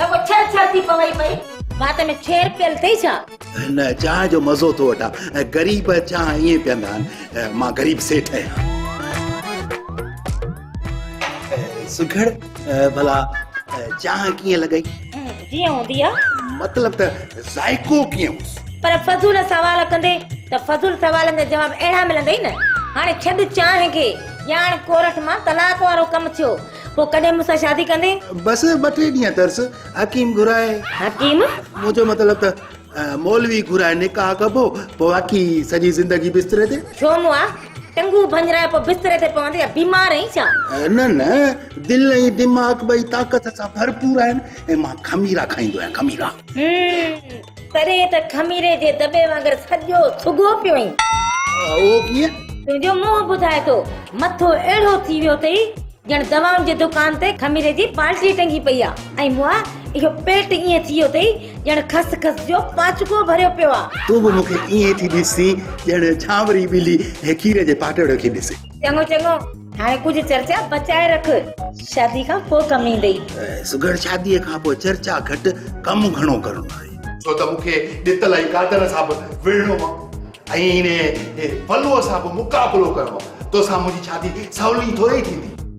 رڳو ڇڙ ڇڙ ٿي پوي پئي. وات ۾ ڇير پيل ٿئي ڇا؟ هن چانهه جو مزو ٿو وٺان. غريب چانهه ائين پيئندا آهن. مان غريب سيٺ آهيان. سگهڙ ڀلا چانهه ڪيئن لڳئي؟ جيئن هوندي آ. مطلب ته ذائقو ڪيئن هوس؟ پر فضول سوال ڪندي ته فضول سوالن جا جواب اهڙا ملندئي نه. هاڻي ڇڏ چانهه کي. ڄاڻ ڪورٺ مان طلاق وارو ڪم ٿيو. پوء ڪڏهن مون سان شادي ڪندين؟ بس ٻه ٽي ڏينهن ترس حڪيم گهرائي. حڪيم؟ منهنجو مطلب ته مولوي گهرائي نڪاح ڪبو پوء باقي سڄي زندگي بستري تي. ڇو مون آ ٽنگون ڀڃرائي پوء بستري تي پوندين يا بيمار آهين ڇا؟ نه نه دل ۽ دماغ ٻئي طاقت سان ڀرپور آهن ۽ مان خميرا کائيندو آهيان خميرا. هم. تڏهن ته خميري جي دٻي وانگر سڄو سگهو پيو هئين. اهو ڪيئن؟ تنهنجو منهن ٻڌائي ٿو. مٿو اهڙو ٿي ويو اٿئي ڄڻ دوائن جي دڪان تي خميري جي بالٽي ٽنگي پئي آ ۽ مئا اهو پيٽ ائين ٿي ويو اٿئي ڄڻ خس خس جو پاچڪو ڀريو پيو آ. تون به مون کي ائين ٿي ڏسين ڄڻ جهانوري ٻلي کير جي پاٽڙ کي ڏسي. چڱو چڱو هاڻي ڪجهه چرچا بچائي رک شادي کان پوء ڪم ايندئي سگهڙ شادي کان پوء چرچا گهٽ ڪم گهڻو ڪرڻو آهي ڇو ته مون کي ڏتل ۽ قادر سان به وڙهڻو آهي ۽ ان پلوء سان به مقابلو ڪرڻو آهي توسان منهنجي شادي سولي ٿوري ٿيندي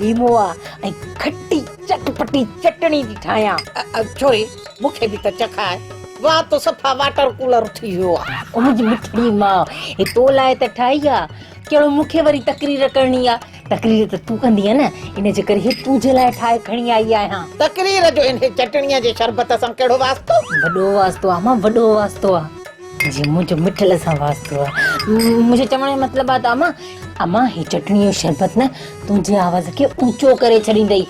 ليمو آ ۽ کٽي چٽ پٽي چٽڻي ٿي ٺاهيان. ڇوري مون کي به ته چکاء. واهه تو صفا واٽر ڪولر ٿي ويو آ. او منهنجي مٺڙي ماء هي تو لاء ته ٺاهي آ. ڪهڙو مون کي وري تقرير ڪرڻي آ. تقرير ته تون ڪندينء نه ان جي ڪري هي تنهنجي لاء ٺاهي کڻي آئي آهيان. تقرير جو هن چٽڻيء جي شربت سان ڪهڙو واسطو؟ وڏو واسطو آ ماء وڏو واسطو آ. جي منهنجو مٺل سان واسطو آ. منهنجي چوڻ جو مطلب آ ته امان امان هي چٽڻي جو شربت نه تنهنجي آواز کي اوچو ڪري ڇڏيندئي.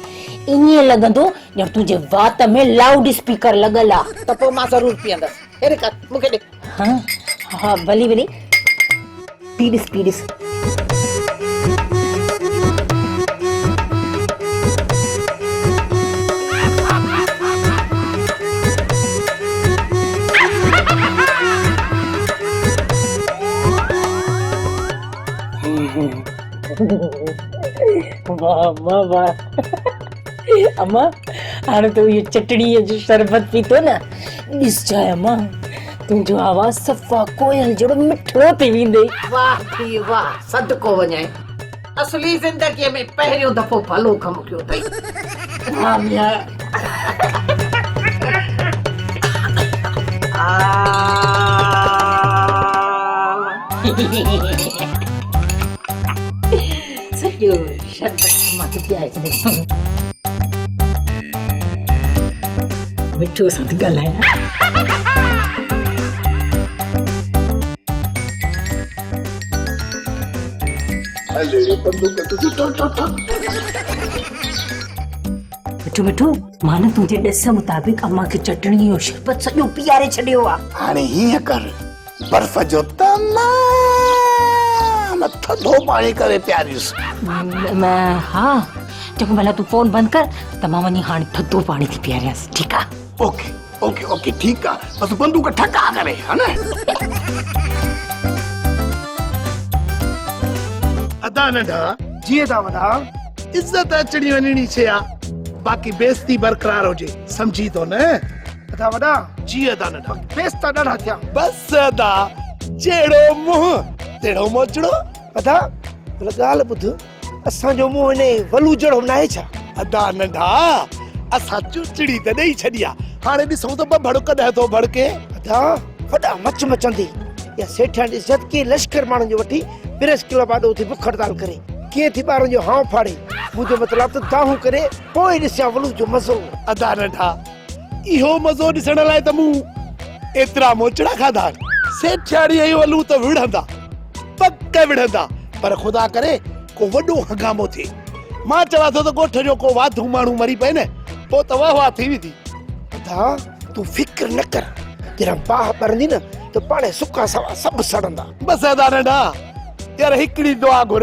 ائين لڳندو ڄڻ تنهنجي وات ۾ لائوڊ اسپيڪر لڳل آ. ته پوء مان ضرور پيئندس. هي رڪ مون کي ڏي. ها ها ڀلي ڀلي. ٽي ڏس ٽي ڏس. واھ اما واھ اما ھاڻي تو اھي چٽڻي جو شربت پيتو نه ڏس جاء اما تنهنجو آواز صفا ڪوئل جهڙو مٺڙو ٿي ويندي. واه ٿي واه صدقو وڃائين اصلي زندگي ۾ پهريون دفعو ڀلو ڪم ڪيو اٿئي ها ميان. سڄو شربت مان ٿي پيائي ڇڏيم. مٺو سان ٿي ڳالهايان. مٺو مٺو مان نه تنهنجي ڏس مطابق امان کي چٽڻي جو شربت سڄو پيئاري ڇڏيو آهي. هاڻي هيئن ڪر برف جو تمام ٿڌو پاڻي ڪري پياريس ها چڱو ڀلا تون فون بند ڪر ته مان وڃي هاڻي ٿڌو پاڻي ٿي پياريانس ٺيڪ آ اوڪي اوڪي اوڪي ٺيڪ آ بس بندوق ٺڪا ڪري ها نه ادا ننڍا جي ادا وڏا عزت اچڻي وڃڻي شي آ باقي بيستي برقرار هجي سمجهي ٿو نه ادا وڏا جي ادا ننڍا کيس ته ڏاڍا ٿيا بس ادا جهڙو منهن تهڙو موچڙو ادا هن ڳالهه ٻڌ اسان جو منهن هن ولو جهڙو ناهي ڇا ادا ننڍا اسان چوچڙي ته ڏيئي ڇڏي آ هاڻي ڏسون ته ٻڀڙ ڪڏهن ٿو ڀڙڪي ادا وڏا مچ مچندي يا سيٺيان ڏس جد ڪي لشڪر ماڻهن جو وٺي پريس ڪلب آڏو اٿي بک هڙتال ڪري ڪي ٿي ٻارن جو هانء ڦاڙي منهنجو مطلب ته دانهون ڪري پوء ڏسيان ولو جو مزو ادا ننڍا اهو مزو ڏسڻ لاء ته مون ايترا موچڙا کاڌا آهن. سيٺياڻي ۽ الو ته وڙهندا، پڪ وڙهندا، پر خدا ڪري ڪو وڏو هنگامو ٿئي. مان چوان ٿو ته ڳوٺ جو ڪو واڌو ماڻهو مري پئي نه، پوء ته واهه واهه ٿي ويندي. ادا، تون فڪر نه ڪر. جڏهن باهه ٻرندي نه ته پاڻهي سڪا سوا سڀ سڙندا. بس ادا ننڍا، يار هڪڙي دعا گهر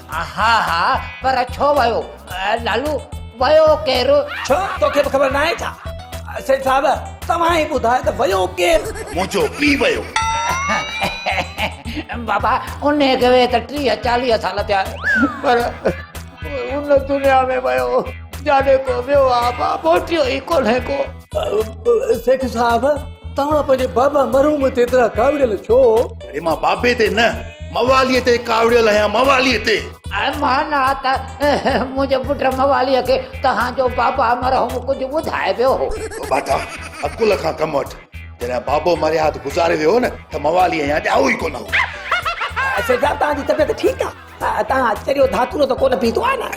ها ها پر ڇو ويو لالو ويو ڪير؟ ڇو توکي به خبر ناهي ڇا؟ سيٺ صاحب توهان ئي ٻڌايو ته ويو ڪير؟ منهنجو پيء ويو. بابا انهي کي ويهي ته ٽيهه چاليهه سال ٿيا پر ان دنيا ۾ ويو جاڏي ڪو ويو آ بابو ٽيو ئي ڪونهي ڪو. سيٺ صاحب توهان پنهنجي بابا مرحوم تي ايترا ڪاوڙيل ڇو؟ اڙي مان بابي تي نه موالي تي ڪاوڙيل آهيان موالي تي. مان نه ته منهنجي پٽ موالي کي توهان جو بابا مرحوم ڪجهه ٻڌائي ويو هو. ٻاٽا عقل کان ڪم وٺ جڏهن بابو مرهيات گذاري ويو هو نه ته موالي اڃا ڄائو ئي ڪونه هو. سيٺ صاحب توهان جي طبيعت ٺيڪ آهي؟ اتان چريو ڌاتورو ته ڪونه پيتو آهي نه؟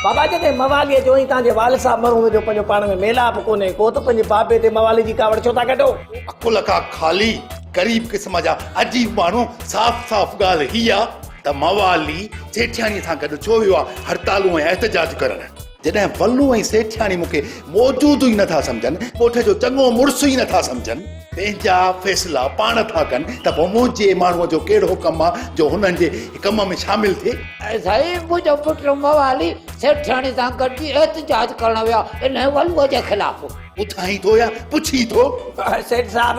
بابا جڏهن مواليء چيو، تان جي والد صاحب مرحوم جو پنهنجو پاڻ ۾ ميلاپ ڪونهي ڪو ته پنهنجي بابي تي موالي جي ڪاوڙ ڇو ٿا ڪڍو؟ عقل کان خالي غريب قسم جا عجيب ماڻهو صاف صاف ڳالهه هي آهي ته موالي جيٺياڻيء سان گڏ ڇو ويو آهي هڙتالون ۽ احتجاج ڪرڻ؟ جڏهن ڦلون ۽ سيٺياڻي مون کي موجود ئي نٿا سمجهن، ڳوٺ جو چڱو مڙس ئي نٿا سمجهن، پنهنجا فيصلا پاڻ ٿا ڪن ته پوء منهنجي ماڻهوء جو ڪهڙو ڪم آ جو هنن جي ڪم ۾ شامل ٿئي. سائين منهنجو پٽ موالي سيٺياڻي سان گڏجي احتجاج ڪرڻ ويا انهيء ڦلوء جي خلاف. پڇائين ٿو يا پڇين ٿو؟ سيٺ صاحب!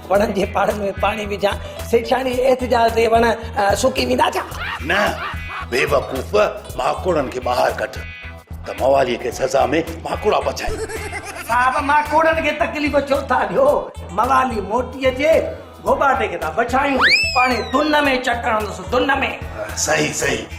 وڻن جي پاڙن ۾ پاڻي وجهان سيٺياڻي احتجاج تي وڻ سڪي ويندا ڇا؟ نه بيوقوف ماڪوڙن کي ٻاهر ڪڍ ته موالي کي سزا ۾ ماڪوڙا پڇائين. صاحب ماڪوڙن کي تڪليف ڇو ٿا ڏيو موالي موٽي اچي گوٻاٽي کي ٿا پڇائيون. پاڻي دن ۾ چڪ هڻندس دن ۾. صحيح صحيح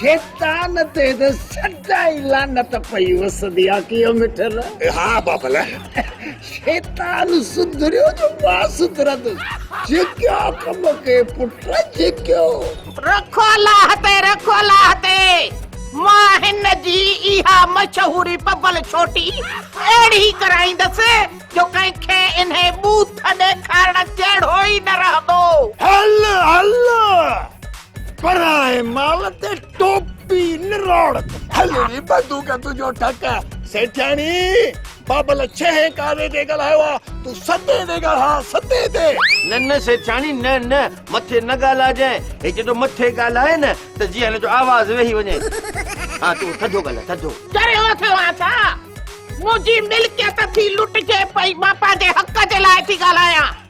شيطان تي ته سدائين لعنت پئي وسندي آ ڪيو مٺل. ها بابل. شيطان سڌريو جو باس ترندس. جيڪيو ڪم ڪي پٽ جيڪيو. رکو الله تي رکو الله تي. مان هن جي اها مشهوري پبل ڇوٽي اهڙي ڪرائيندس جو ڪنهن کي انهي ٻوٿ ڏيکارڻ جهڙو ئي نه رهندو. هل هل. پرائي مال تي ٽوپي نروڙ هل ري بدو ڪا تجو ٺڪ سيٺياڻي بابل ڇهين ڪاري تي ڳالهايو آ تو ستين تي ڳالها ستين تي نه نه سيٺياڻي نه نه مٿي نه ڳالهاجانء هي جڏو مٿي ڳالهائي نه ته جيئن هن جو آواز ويهي وڃي ها تون ٿڌو ڳالهاء ٿڌو چريو ٿيو آ ڇا منهنجي ملڪيت ٿي لٽجي پئي مان پنهنجي حق جي لاء ٿي ڳالهايان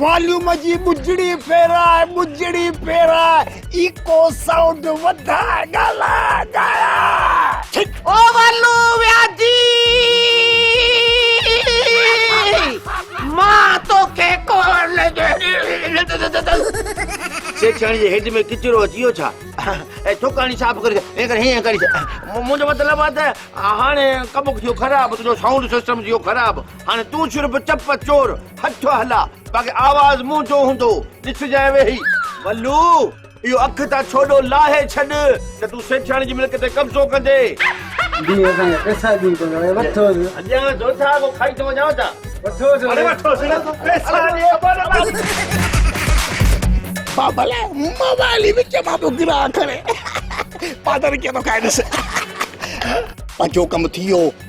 واليوم جي ٻجڙي ڦيراء ٻجڙي ڦيراء ايڪو سائونڊ وڌاء ڳالهاء ڳايا او والو وياجي مان توکي ڪون سيٺياڻي جي هيڊ ۾ ڪچرو اچي ويو ڇا اي ٿوڪاڻي صاف ڪري اي ڪري هي ڪري منهنجو مطلب آ ته هاڻي ڪم ٿيو خراب تنهنجو سائونڊ سسٽم ٿيو خراب هاڻي تون شرب چپ چور هٺ هلا باقي آواز منهنجو هوندو ڏسجانء ويهي. ولو اهو اک تان ڇوڏو لاهي ڇڏ نه تون سيٺياڻي جي ملڪ تي قبضو ڪندي. ڏي اسان کي پئسا ڏي ڪو نه وٺوس. اڄان جو ٿا اڳو کائي ٿو وڃان ڇا. وٺوس اڙي وٺوس نه تون پئسا ڏي ابا. بابل موبائل ئي وچ مان پيو گرا ڪري. پادري ڪيئن ٿو کائي ڏس. پنهنجو ڪم ٿي ويو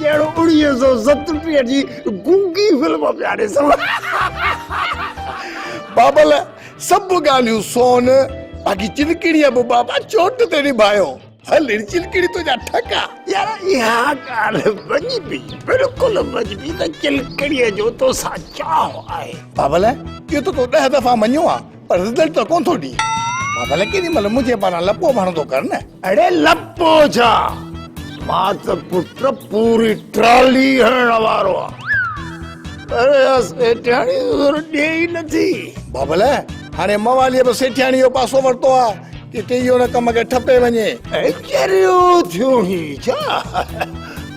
ڄڻ اوڻيهه سؤ ستٽيهه جي گونگي فلم پيا ڏسون. بابل سڀ ڳالهيون سون، باقي چلڪڙيء به بابا چوٽ تي نڀايو. هل هن چلڪڙي تنهنجا ٺڪا. يار اها ڳالهه مڃبي، بلڪل مڃبي ته چلڪڙيء جو توسان چاهه آهي. بابل اهو ته تو ڏهه دفعا مڃيو آهي. پر رزلٽ ته ڪونه ٿو ڏئي. مان ڀلي ڪيڏي مھل منھنجي پاران لپو ڀڻ ٿو ڪر نه. اڙي لپو ڇا مان ته پٽ پوري ٽرالي ھڻڻ وارو آھيان. اڙي اھا سيٺياڻي زور ڏئي ئي نٿي. بابل ھاڻي مواليء به سيٺياڻي جو پاسو ورتو آ. ڪٿي اھو ھن ڪم کي ٺپي وڃي. اڙي چريو ٿيو ھين ڇا.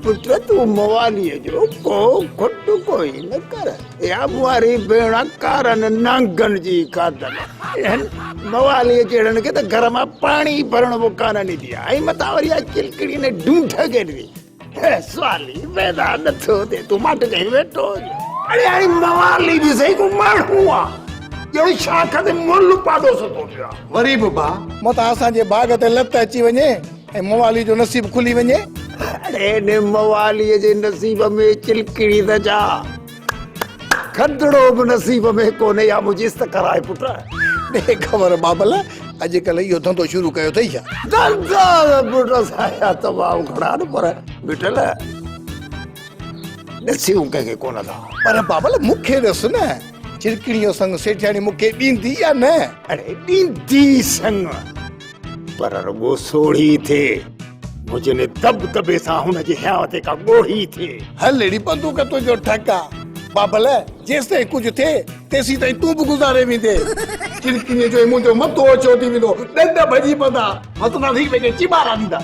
پٽ تون مواليء جو ڪو کٽ ڪوئي نه ڪر. يا ٻوهاري ڀيڻ ڪارن نانگن جي کاڌل هن مواليء جهڙن کي ته گهر مان پاڻي ڀرڻ به ڪانه ڏيندي آهي ۽ متان وري اها ڪلڪڙي نه ڊونٺ کي ڏي سوالي ويدا نٿو ڏي تون ماٽ ڪهي ويٺو اڙي هاڻي موالي به صحيح ڪو ماڻهو آهي ڄڻ شاخ تي مل پاڏو ستو پيو آهي وري به ڀاء متان اسان جي باغ تي لت اچي وڃي ۽ موالي جو نصيب کلي وڃي. اڙي ان موالي جي نصيب ۾ چلڪڙي ته ڇا کدڙو به نصيب ۾ ڪونهي يا مجيس ته ڪرائي پٽ. ڏي خبر بابل اڄڪلهه اهو ڌنڌو شروع ڪيو اٿئي ڇا؟ ڌنڌا ته پٽ اسان جا تمام گهڻا آهن پر مٺل ڏسيون ڪنهن کي ڪونه ٿا. پر بابل مون کي ڏس نه چلڪڙي جو سڱ سيٺياڻي مون کي ڏيندي يا نه؟ اڙي ڏيندي سڱ پر رڳو سوڙهي ٿئي، مجني دٻ دٻي سان هن جي هيا تي ڪا ڳوڙهي ٿئي. هل اهڙي بندوق تنهنجو ٺڪ آ. بابل، جيستائين ڪجهه ٿئي، تيسين تائين تون به گذاري ويندين. ڪن ڪنيء جو هي منهنجو مٿو اوچو ٿي ويندو، ڏند ڀڄي پوندا، هسندا ته هڪ ٻئي کي چيٻارا ڏيندا.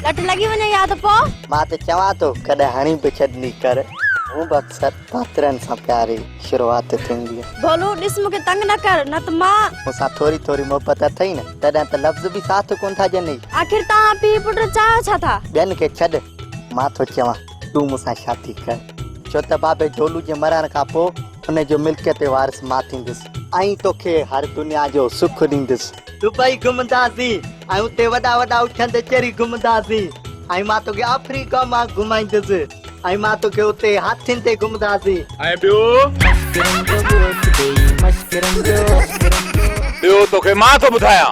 لٽ لڳي وڃي يا ته پو مان ته چوان ٿو ڪڏهن هڻي به ڇڏني ڪر هون به اڪثر پاترن سان پياري شروعات ٿيندي آهي ڀولو ڏس مون کي تنگ نه ڪر نه ته مان مون سان ٿوري ٿوري محبت اٿئي نه تڏهن ته لفظ به ساٿ ڪونه ٿا ڏينئي آخر توهان پيء پٽ چاهيو ڇا ٿا ٻين کي ڇڏ مان ٿو چوان تون مون سان شادي ڪر. ڇو ته بابي جولو جي مرڻ کان پوء ان جو ملڪيتي وارث مان ٿيندس. ۽ توکي هر دنيا جو سک ڏيندس. دبئي گهمنداسين ۽ اتي وڏا وڏا اڇند چري گهمنداسين ۽ مان توکي آفريڪا مان گهمائيندس ۽ مان توکي اتي هاٿين تي گهمنداسين. ۽ ٻيو توکي مان ٿو ٻڌايان.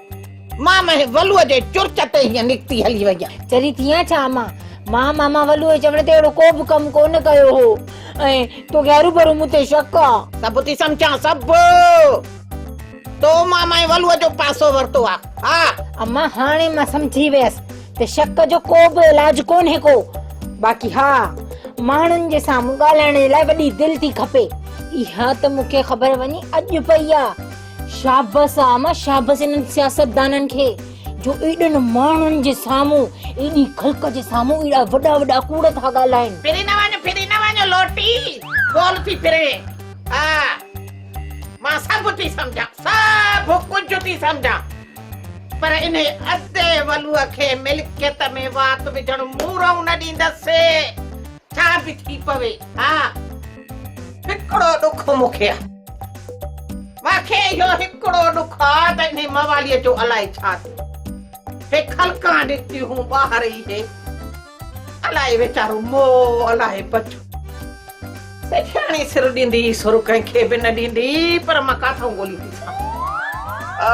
مان مهي ولوء جي چرچ تي هيئن نڪتي هلي ويم. چري ٿي آن ڇا امان؟ مان ماما ولوء جي چوڻ تي اهڙو ڪو به ڪم ڪونه ڪيو هو ۽ توکي هروڀرو مون تي شڪ آ. سڀ ٿي سمجهان سڀ. تو مان مهي ولوء جو پاسو ورتو آ. ها. امان هاڻي مان سمجهي ويس ته شڪ جو ڪو به علاج ڪونهي ڪو. باقي ها ماڻهن جي سامهون ڳالهائڻ جي لاء وڏي دل ٿي کپي. اها ته مون کي خبر وڃي اڄ پئي آ شابس آ امان شابس انهن سياستدانن کي جو ايڏن ماڻهن جي سامهون ايڏي خلق جي سامهون ايڏا وڏا وڏا ڪوڙ ٿا ڳالهائين. ڦري نه وڃ ڦري نه وڃ لوٽي گول ٿي ڦري ها مان سڀ ٿي سمجهان سڀ ڪجهه ٿي سمجهان پر انهي ادي ولوء کي ملڪيت ۾ وات وجهڻ مون رئون نه ڏيندس. ڇا به ٿي پوي ها هڪڙو ڏک مون کي مان کي اهو هڪڙو ڏک آ ته انهي مواليء جو الائي ڇا ٿيو هي خلقان نڪتيون ٻاهر ئي هي الائي ويچارو مو الائي بچو سيٺياڻي سر ڏيندي سر ڪنهن کي به نه ڏيندي پر مان ڪاٿئون ڳولي ٿي سان آ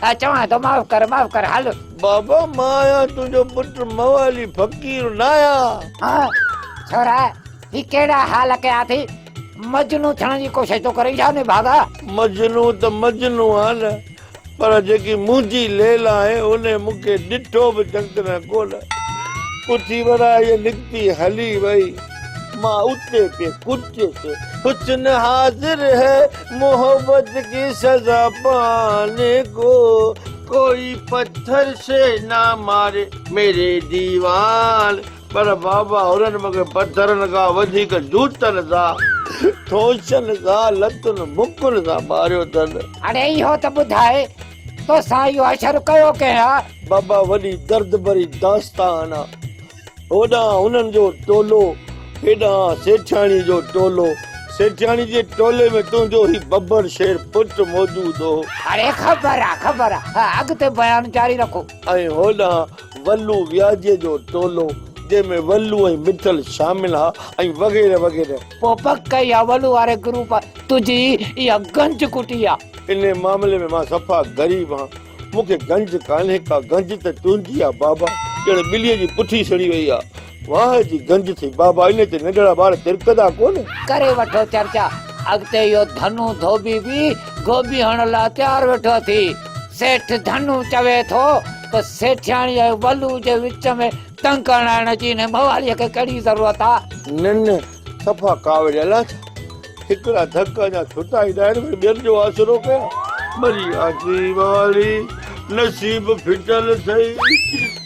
ڇا چوان ٿو معاف ڪر معاف ڪر هل. بابا مان آهيان تنهنجو پٽ موالي فقير ناهيان. ها ڇورا هي ڪهڙا حال ڪيا اٿئي مجنون ٿيڻ جي ڪوشش ٿو ڪرين ڇا نڀاڳا. مجنون ته مجنون آهيان نه پر جيڪي منهنجي ليلا آهي انهي مون کي ڏٺو به چڱ طرح ڪونه اٿي ورهائي نڪتي هلي وئي. مان اتي تي ڪتي تي حسن حاضر هي محبت ڪي سزا پاني ڪو ڪوئي پٿر سي نا ماري ميري ديوان پر بابا هنن مون کي پٿرن کان وڌيڪ جوتن سان ٺوشن سان لتن مڪن سان ماريو اٿن. هاڻي اهو ته ٻڌاء توسان اهو حشر ڪيو ڪنهن آ؟ بابا وڏي درد ڀري داستان آ هوڏانهن انهن جو ٽولو، هيڏانهن سيٺياڻيء جو ٽولو. سيٺياڻي جي ٽولي ۾ تنهنجو هي ببر شير پٽ موجود هو. اڙي خبر آ، خبر آ. اڳتي بيان جاري رکو. ۽ هوڏانهن ولو وياجي جو ٽولو، جنهن ۾ ولو ۽ مٺل شامل ها ۽ وغيره وغيره. پوء پڪ اها ولو واري گروپ تنهنجي اها گنج ڪٽي آ. انهيء معاملي ۾ مان صفا غريب هان. مون کي گنج ڪانهي ڪا گنج ته تنهنجي آ بابا. ڄڻ ٻليء جي پٺي سڙي وئي آ. واهه جي گنج ٿئي بابا. انهيء تي ننڍڙا ٻار ترڪندا ڪونه. ڪري وٺو چرچا. اڳتي اهو ڌنو ڌوٻي به گوبي هڻڻ لاء تيار ويٺو ٿي. سيٺ ڌنو چوي ٿو ته سيٺياڻيء ۽ ولوء جي وچ ۾ تنگ ڪرڻ آڻڻ جي انهيء مواليء کي ڪهڙي ضرورت آ. ننهن صفا ڪاوڙيا لاٿا، ٺڪرا ڌڪ اڃا ڇوٽا ئي ناهن وري ٻين جو آسرو ڪيا. مري آسي واري نصيب ڦٽل سئي،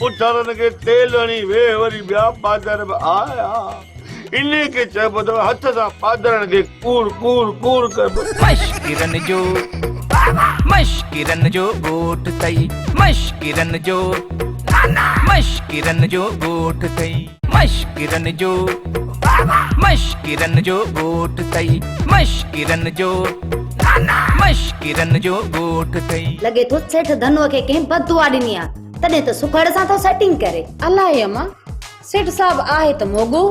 پٿرن کي تيل هڻي ويهه وري ٻيا پاڌر به آيا، انهي کي چئبو اٿو هٿ سان پاڌرن کي ڪور ڪور ڪور ڪبو. مشڪرن جو مشڪرن جو ڳوٺ سئي، مشڪرن جو مشڪرن جو ڳوٺ سئي. مشڪرن جو مشڪرن جو ڳوٺ ٿئي مشڪرن جو مشڪرن جو ڳوٺ ٿئي. لڳي ٿو سيٺ ڌنوء کي ڪنهن بد دعا ڏني آ تڏهن ته سکڙ سان ٿو سيٽنگ ڪري. الائي اما سيٺ صاحب آهي ته موڳو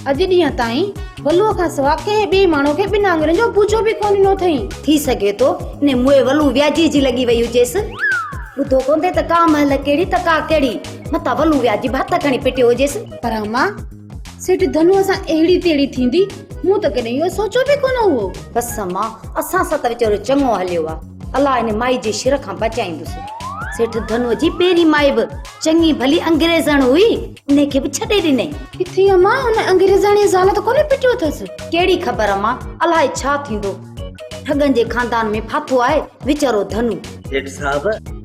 اڄ ڏينهن تائين ولوء کان سوا ڪنهن ٻئي ماڻهو کي ٻن آڱرين جو ٻوجهو به ڪونه ڏنو اٿئي. ٿي سگهي ٿو انهي موئي ولو وياجي جي لڳي وئي هجيس. ٻڌو ڪونه ٿئي ته ڪا مهل ڪهڙي ته ڪا ڪهڙي. متان ولون ويا جي به هٿ کڻي پٽيو هجيس پر اما سيٺ ڌنوء سان اهڙي تهڙي ٿيندي مون ته ڪڏهن اهو سوچيو به ڪونه هو بس اما اسان سان ته ويچارو چڱو هليو آ الله هن مائي جي شر کان بچائيندس سيٺ ڌنوء جي پهرين مائي به چڱي ڀلي انگريزڻ هئي ان کي به ڇڏي ڏنئي ڪٿي اما ان انگريزاڻي زال ته ڪونه پٽيو اٿس ڪهڙي خبر اما الائي ڇا ٿيندو ٺڳن جي خاندان ۾ ڦاٿو آهي ويچارو ڌنو سيٺ صاحب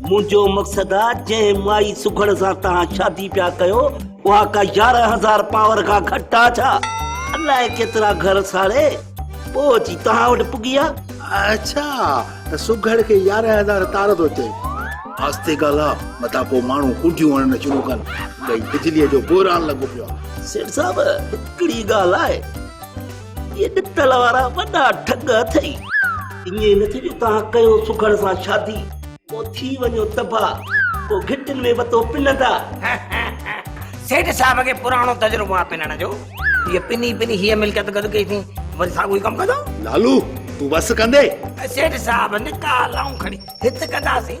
منهنجو مقصد آ جنهن مائي سگهڙ سان توهان شادي پيا ڪيو اها ڪا يارهن هزار پاور کان گهٽ آ ڇا؟ الاء ڪيترا گهر ساڙي پوء اچي توهان وٽ پڳي آ. اڇا ته سگهڙ کي يارهن هزار تار ٿو چئين. آستي ڳالهاء متان پوء ماڻهو ڪنڊيون هڻڻ شروع ڪن. ڪئي بجليء جو بحران لڳو پيو آ. سيٺ صاحب هڪڙي ڳالهه آهي. اهي ڏتل وارا وڏا ٺڳ اٿئي. ائين نه ٿئي جو توهان ڪيو سگهڙ سان شادي، پوء ٿي وڃو تباهه، پوء گهٽين ۾ وتو پنندا. سيٺ صاحب کي پراڻو تجربو آهي پنڻ جو. هيء پني پني هيء ملڪيت گڏ ڪئي اٿئي، وري ساڳيو ئي ڪم ڪندو. لالو، تون وس ڪندين. سيٺ صاحب نڪاح لائون کڻي هت ڪنداسين.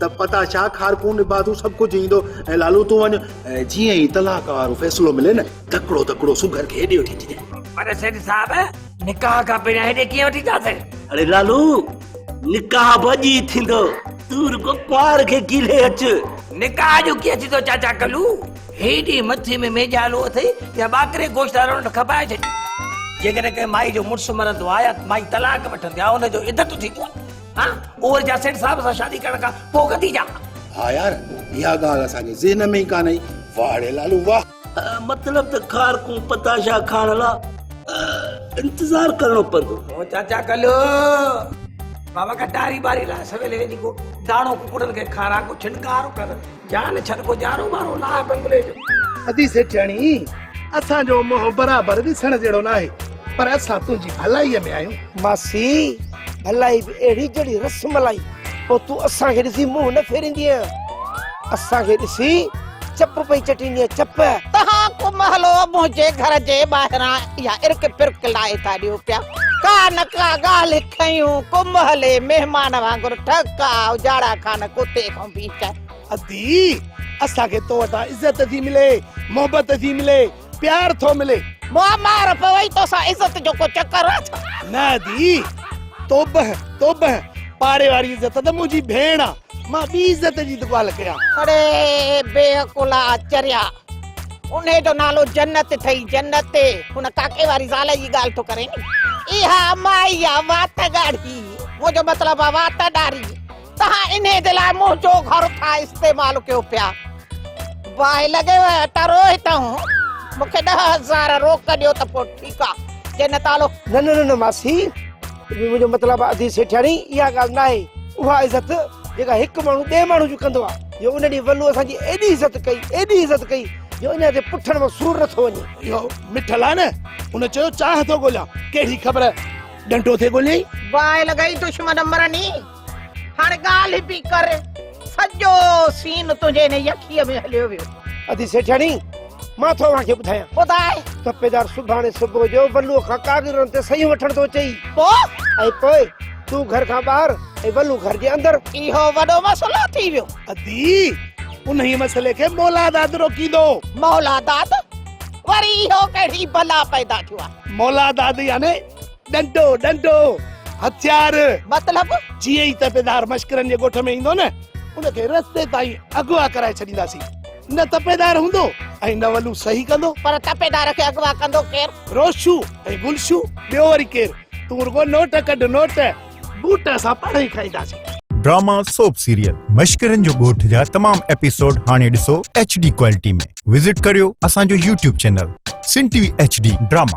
ته پتا شاهه خارڪون نبادون سڀ ڪجهه ايندو ۽ لالو تون وڃ ۽ جيئن ئي طلاق وارو فيصلو ملي نه تڪڙو تڪڙو سگهر کي هيڏي وٺي اچجي پر سيٺ صاحب نڪاح کان پهريان هيڏي ڪيئن وٺي ٿا اچن اڙي لالو نڪاح به اڄ ئي ٿيندو تون رڳو ڪنوار کي ڪيلي اچ نڪاح جو ڪيئن ٿيندو چاچا ڪلو هيڏي مٿي ۾ ميجا هلو اٿئي يا ٻاڪري گوشت وارو نٽ کپائي ڇڏي جيڪڏهن ڪنهن مائي جو مڙس مرندو آهي يا مائي طلاق وٺندي آهي ان جو عدت ٿيندو آهي ها اوور جا سيٺ صاحب سان شادي ڪرڻ کان پو ڪتي جا ها يار يا گال اسا جي ذهن ۾ ڪان آئي واهه ڙي لالو واهه مطلب ته کار کون پتاشا کان لا انتظار ڪرڻو پندو او چاچا ڪلو بابا ڪا ٽاري باري لا سويلي ويندي ڪو داڻو ڪڪڙن کي کارا ڪو ڇنڪار ڪر جان ڇڏ ڪو جارو مارو لاء بنگلي جو. ادي سيٺياڻي اسان جو منهن برابر ڏسڻ جهڙو ناهي پر اسان تنهنجي ڀلائي ۾ آهيون. ماسي ڀلائي به اهڙي جهڙي رس ملائي پوء تون اسان کي ڏسي منهن نه ڦيريندينء اسان کي ڏسي چپ پئي چٽيندينء چپ. تهان ڪو مهلو منهنجي گهر جي ٻاهران اها ارڪ پرڪ لائي ٿا ڏيو پيا ڪا نه ڪا ڳالهه کنيون ڪو مهلي مهمان وانگر ٺڪ آء اجاڙا خان ڪوتي کان به ادي اسان کي تو وٽان عزت ٿي ملي محبت ٿي ملي پيار ٿو ملي مار پوي تو سان عزت جو ڪو چڪر آ ڇا نه ادي توبه توبه پاڙي واري عزت ته منهنجي ڀيڻ آ مان ٻي عزت جي دڪال ڪيان اڙي بي عقلا چريا ان جو نالو جنت ٿئي جنت ان ڪاڪي واري زال جي ڳالهه ٿو ڪرين اها مائي آ وات ڳاڙهي منهنجو مطلب آ وات ڏاري توهان انهي جي لاء منهنجو گهر ٿا استعمال ڪيو پيا. باهه لڳي ويو آهي ته روهي تون. مون کي ڏهه هزار روڪ ڏيو ته پوء ٺيڪ آ. جي نه ته هلو. نه نه نه ماسي. منهنجو مطلب آ ادي سيٺياڻي اها ڳالهه ناهي. اها عزت جيڪا هڪ ماڻهو ٻئي ماڻهو جي ڪندو آ. جو ان ڏينهن ولو اسان جي ايڏي عزت ڪئي ايڏي عزت ڪئي جو اڃان تائين پٺڻ مان سور نه ٿو وڃي. اهو مٺل آ نه. ان چيو چانهه ٿو ڳوليان. ڪهڙي خبر ڏنڊو ٿي ڳوليائين. باهه لڳائي دشمن مرني. هاڻ ڳالهه پي ڪر سڄو سين تنهنجي هن يخيء ۾ هليو ويو. ادي سيٺياڻي مان ٿو اوهان کي ٻڌايان. ٻڌاء. تپيدار سڀاڻي صبح جو ولوء کان ڪاڳرن تي صحيحون وٺڻ ٿو اچئي. پوء؟ ۽ پوء تون گهر کان ٻاهر ۽ ولو گهر جي اندر. اهو وڏو مسئلو ٿي ويو. ادي انهيء مسئلي کي مولا داد روڪيندو. مولا داد؟ وري اهو ڪهڙي بلا پيدا ٿيو آهي. مولا داد يعني ڏنڊو ڏنڊو هٿيار مطلب جيئن ئي تپيدار مشڪرن جي ڳوٺ ۾ ايندو نه ان کي رستي تائين اغوا ڪرائي ڇڏينداسين نه تپيدار هوندو ۽ نه ولو صحيح ڪندو پر تپيدار کي اغوا ڪندو ڪير روشو ۽ گلشو ٻيو وري ڪير تون رڳو نوٽ ڪڍ نوٽ بوٽ اسان پاڻ ئي کائينداسين ڊراما سوپ سيريل مشڪرن جو ڳوٺ جا تمام ايپيسوڊ هاڻي ڏسو ايڇ ڊي ڪوالٽي ۾ وزٽ ڪريو اسان جو YouTube channel Sun T V H D drama